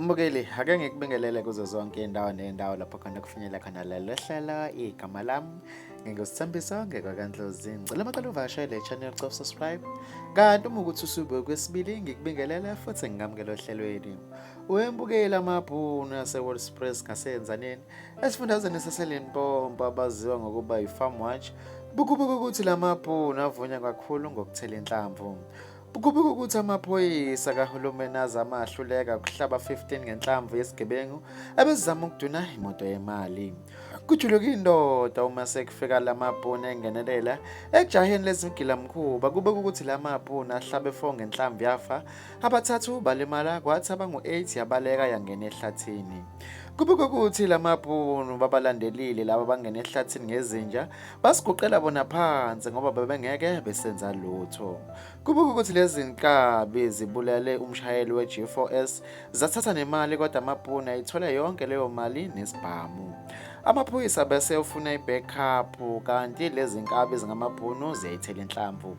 Mbukeli, ake ngikubingelele kuzo zonke indawo nendawo lapho khona kufinyela khona lelo hlelo igama lami ngingusithembiso ngekwakandlozi ngicela amaqala uvakashele le channel cof subscribe kanti uma ukuthi usube kwesibili ngikubingelele futhi ngingamukele ohlelweni wembukeli amabhunu ase-world express ngasenza nini Esifundazweni saseLimpopo abaziwa ngokuba yi-Farm Watch bukubuka ukuthi la mabhunu avunya kakhulu ngokuthela inhlamvu. Bukubuka ukuthi amaphoyisa kahulumeni azama ahluleka ukuhlaba 15 ngenhlamvu yesigebengu ebezizama ukuduna imoto yemali. Kujuluka indoda uma sekufika la mabhunu engenelela ejaheni lezigilamkhuba kubeka ukuthi la mabhunu ahlabe 4 ngenhlamvu yafa abathathu balimala kwathi abangu-8 yabaleka yangena ehlathini. Kubikwa ukuthi lamabhunu babalandelile laba bangena ehlathini ngezinja basiguqela bona phansi ngoba bebengeke besenza lutho. Kubikwa ukuthi lezi nkabi zibulale umshayeli we-G4S zathatha nemali kodwa amabhunu ayithola yonke leyo mali nesibhamu. Amaphoyisa bese ufuna i-backup kanti lezi nkabi zingamabhunu ziyayithela inhlamvu.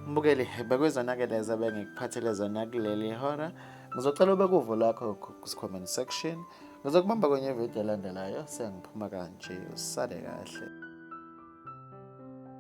Mbukeli bekwezonakele zebe ngikuphathele zona kuleli hora. Ngizocela ubeke uvo lakho ku-comment section. Ngizokubamba kwenye video elandelayo sengiphuma kanje. Usale kahle.